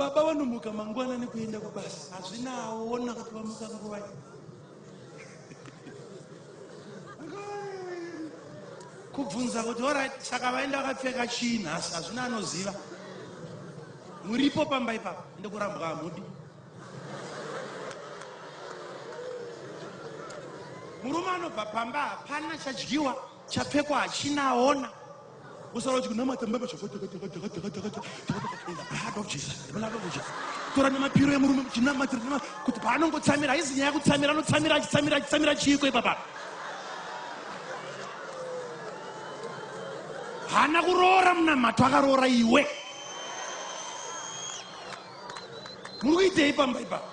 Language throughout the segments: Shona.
baba vanomuka mangwana nekuenda kubasa hazvinawo wona kuti vamuka nguvai kubvunza kuti orit saka vaenda vakapfeka chii nhasi hazvina anoziva muripo pamba ipapa ende kurambwa hamudi murume anobva pamba hapana chadyiwa chapfekwa hachina aona Usara chikunamata mbaba chakati kati kati kati kati kati in the blood of Jesus in the blood of Jesus tora nemapiro emurume muchinamata kuti paanongotsamira haizi nyaya kutsamira anotsamira achitsamira achitsamira chiiko ipapa hana kuroora munamato akaroora iwe muitei pamba ipapa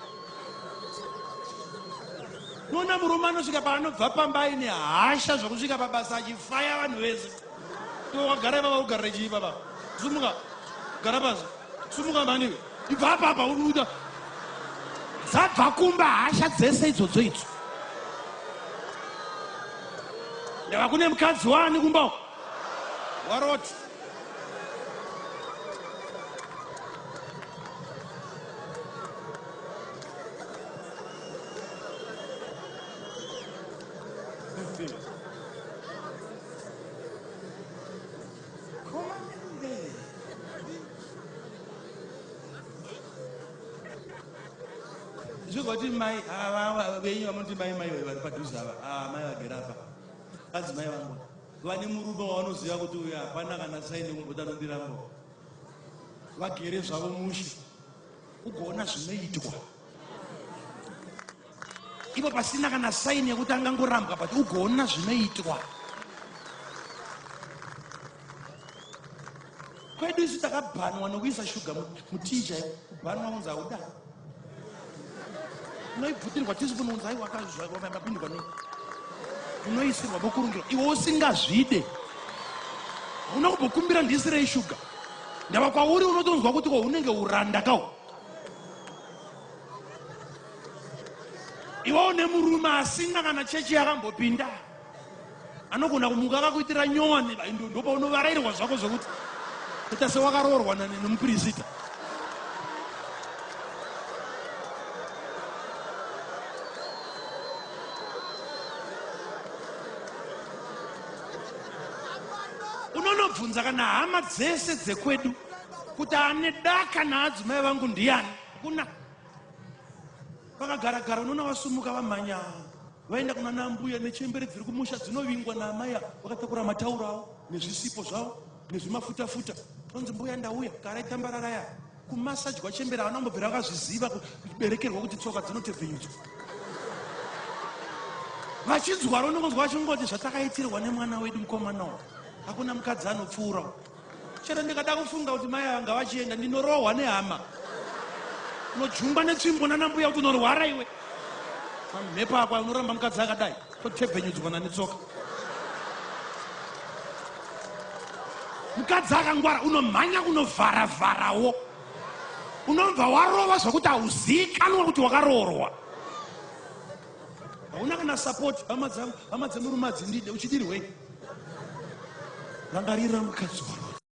nona murume anosvika paanobva pamba aine hasha zvokusvika pabasa achifaya vanhu vese towagara ivava ugarira chii papa sumuka gara pasi sumuka maniwe ibva papa uruda dzabva kumba hasha dzese idzodzo idzo ndava kune mukadzi waani kumba Waroti. zvozvati mai venyu vamunoti mai mai vari padhuze ava ah, mai vagera apa kadzimai vangu Vane murume wavanoziva kuti uyu hapana kana saini kumboda anondiramba. Vagere zvavo mushe ugoona zvinoitwa. Ipo pasina kana saini yekuti angangorambwa but ugoona zvinoitwa. Kwedu isu takabhanwa nokuisa shuga mutii chaipo. Kubhanwa kunzi hauda. unoibvutirwa tisipuni unzai wakazvavambapindwa nei unoisirwa vokurungirwa iwe usingazvide hauna kumbokumbira ndisirei shuga ndava kwauri unotonzwa kuti ko unenge uranda kawo iwe une murume asina kana chechi yakambopinda anogona kumuka akakuitira nyowani ndopaunovarairwa zvako zvekuti ita sewakaroorwa nemupirisita unonobvunza kana hama dzese dzekwedu kuti ane daka naadzimai vangu ndiani kuna vakagara gara unoona vasumuka vamhanya Vaenda kunana ambuya nechembere dziri kumusha dzinovingwa naamai ava vakatakura matauro avo nezvisipo zvavo nezvimafutafuta tonzi mbuya ndauya karai tambarara ya kumasajwa chembere havana kumbobvira vakazviziva kuberekerwa kuti tsoka dzinotevhenyudzwa vachinzwaro unongonzwa vachingoti zvatakaitirwa nemwana wedu mukomana uyu hakuna mukadzi anopfuura chero ndikada kufunga kuti mai ava ngavachienda ndinorohwa nehama unojungwa netsvimbo nanambuya kuti unorwara iwe mamhepo ako unoramba mukadzi akadai totebvenyudzwana netsoka mukadzi akangwara unomhanya kunovharavharawo unobva warova zvekuti hauziikanwa kuti wakaroorwa hauna kana support hama dzangu hama dzemurume adzindide uchidirwei rangarira mukadzi waro